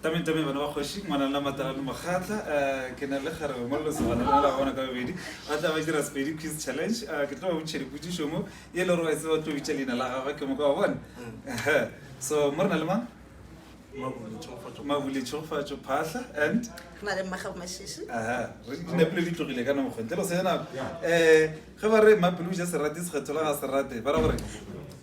tametame bana ba kgoši ngwana la matalane mokgatla um ke na le gare mongololosi gona la bona ka bobedi ba tla ba dira sepedi quiz challenge um ke tlo ba botšha dipodišo mo e le gore wa tseba tlo bitša leina la gagwe ke moka wa bona mm. so mo re na le mang mabule tšhogofatšo phatlha and dinapile di tlogile ka namokgontle lo se nako um ge ba re mapele o ja serate sekgetho la ga serate ba ra gore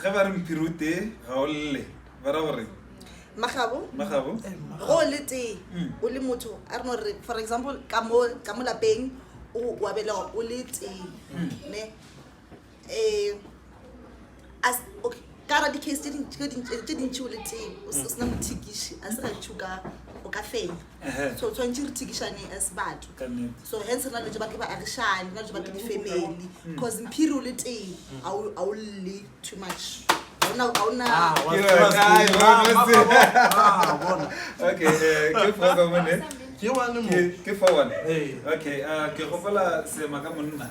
ge ba re mophiri o tee ga o lle ba ra gore magabo magabo go le tee mm. o le motho a re no re for example ka mo ka mo lapeng o wa belega o le tee mm. ne eh as okay ka ra di-case tse dintšhi o le tee o sena mm. mothikiši a se gantšhi o ka fenya so tshwanetse re thikišaneng as batho so hence re na dilo tse ba ke baagišane re na dilo tse ba ke di-family because mm. mphiri o le teng ga o lle too much ke gopola seema ka monna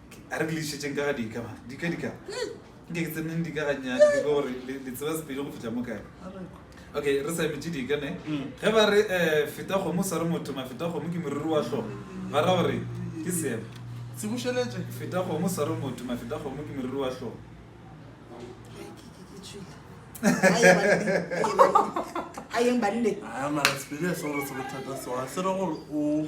A re ke le išetšeng ka ga dika mara. Dika, dika. Nke ke tseneng dika ga nyane ke go gore le le tseba sepedi go fetša mo kae. Okay, re sa emetše dika ne. Ge ba re eh feta kgomo sa re motho ma feta kgomo ke moriri wa hlogo. Ba ra gore ke seema. Se bušeletše. Feta kgomo sa re motho ma feta kgomo ke moriri wa hlogo. A yeng banne. A mara sepedi a se gore se bothata so a se re gore o.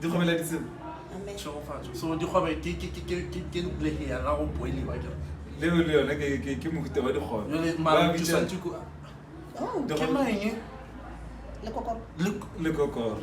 dikgobela ditsela tšhegofatšo so dikgobe ke lehe ya la go boeliwa ke leo le yone ke mohuta wa dikgobe lekokoro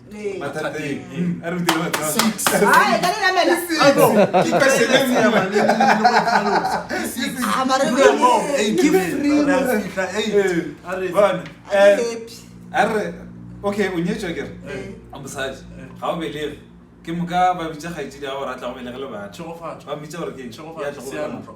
okay o nyetswa kere a mosadi ga o belege ke moka ba bitsa kgaitsedi ga o ratla go belege le batho ba mmitsa gore ke ya tlo go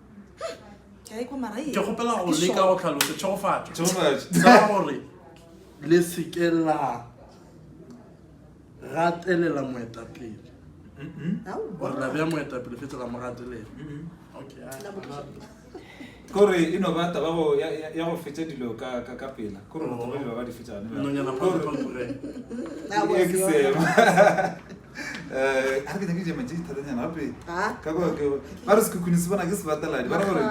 ke kgopela go leka go tlhalosa tšhegofatšo ka gore le seke la gatelela moetapele gore la bea moetapele fetse la mo gatelela kore e no ba taba ya go fetsa dilo ka pela kore ba ba di fetsanonyana a re ke nyake jema tše dithatanyana gape ka kwa ke ba re sekhukhuni se bona ke sebateladi ba re gore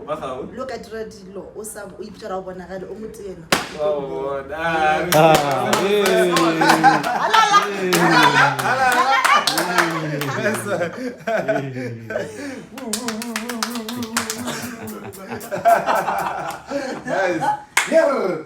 ba gago lo ka dira dilo o sa o ipitšara o bonagale o motena Nice. Yeah.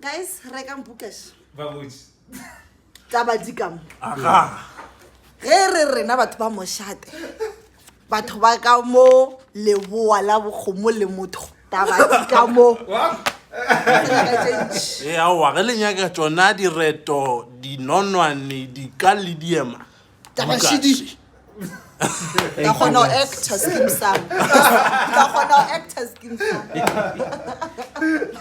Guys, rekang bookash. Babuji. Tla ba di ka mo. Aga. Ge re rena batho ba moshate. Batho ba ka mo leboa la bokgomo le motho. Tla ba di ka mo. Ee, aowa, ge le nyaka tsona direto, dinonwane, dika le diema. Tla ba šidiši. Ka kgona go actor skin sa. Ka kgona go actor skin sa.